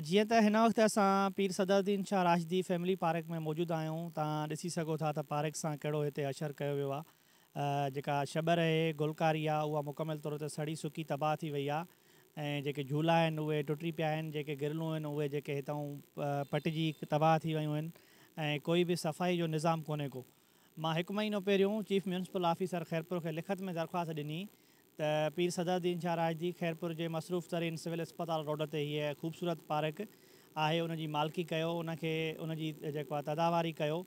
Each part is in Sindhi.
جيئن ته هن وقت اسان پير صدرالدين شاهه راشدي فيملي پارڪ ۾ موجود آهيون توهان ڏسي سگهو ٿا ته پارڪ سان ڪهڙو هتي حشر ڪيو ويو آهي جيڪا شٻر اهي گلڪاري آهي اها مڪمل طور تي سڙي سڪي تباهه ٿي وئي آهي ۽ جيڪي جهولا آهن اهي ٽٽي پيا آهن جيڪي گرلون آهن اهي جيڪي هتئون پٽجي تباهه ٿي ويون آهن ۽ ڪوئي به صفائي جو نظام ڪونهي ڪو مان هڪ مهينو پهريون چيف ميونسپل آفيسر خيرپور کي لکت ۾ درخواست ڏني ته پير صدر الدين شاهه راشدي خيرپور جي مصروف ترين سول اسپتال روڊ تي هيء خوبصورت پارڪ آهي ان جي مالڪي ڪيو ان کي ان جي جيڪو آهي تداواري ڪيو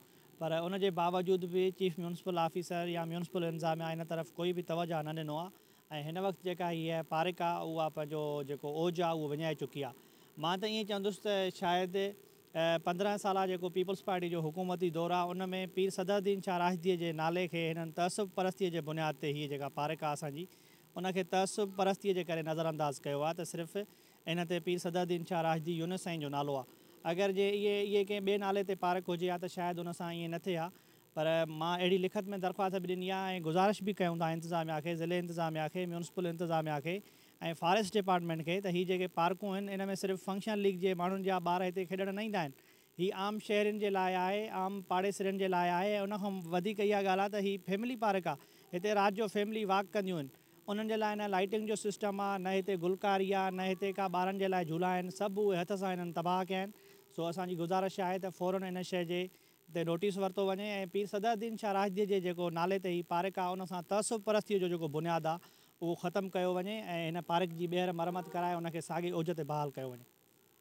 پر ان جي باوجود به چيف ميونسپل آفيسر يا ميونسپل انظاميا ان طرف ڪوئي به توجهه نه ڏنو آهي ۽ هن وقت جيڪا هيء پارڪ آهي اها پنهنجو جيڪو اوج آهي اهو وڃائي چڪي آهي مان ته ائين چوندس ته شايد پندرهن سالا جيڪو پيپلز پارٽي جو حڪومتي دور آ ان ۾ پير صدر الدين شاهه راشديء جي نالي کي هنن تعصب پرستيء جي بنياد تي هيء جيڪا پارڪ آ اسان جي ان کي تعصب پرستيء جي ڪري نظر انداز ڪيو آ ته صرف ان تي پير صدر الدين شاهه راشدي يونس سائين جو نالو آ اگر جي اهي اهي ڪنهن ٻئي نالي تي پارڪ هجي ها ته شايد ان سان ائين نه ٿئي ها پر مان اهڙي لکت ۾ درخواست به ڏني آ ۽ گذارش به ڪيون ٿا انتظاميا کي ضلعي انتظاميا کي ميونسپل انتظاميا کي ۽ فاريسٽ ڊپارٽمينٽ کي ته هي جيڪي پارڪون آهن ان ۾ صرف فنڪشن ليگ جي ماڻهن جا ٻار هتي کيڏڻ نه ايندا آهن هي عام شهرين جي لاء آهي عام پاڙيسرين جي لاء آهي ۽ ان کان وڌيڪ اها ڳالهه آهي ته هي فيملي پارڪ آهي هتي رات جو فيملي واڪ ڪنديون آهن انهن جي لاء نه لائٽنگ جو سسٽم آهي نه هتي گلڪاري آهي نه هتي ڪا ٻارن جي لاء جهولا آهن سڀ اهي هٿ سان هنن تباهه ڪيا آهن سو اسان جي گذارش آهي ته فورن ان شي جي تي نوٽيس ورتو وڃي ۽ پير صدر الدين شاهه راشديء جي جيڪو نالي تي هي پارڪ آ ان سان تعصب پرستيء جو جيڪو بنياد آ اهو ختم ڪيو وڃي ۽ هن پارڪ جي ٻيهر مرمت ڪرائي ان کي ساڳي اوج تي بحال ڪيو وڃي.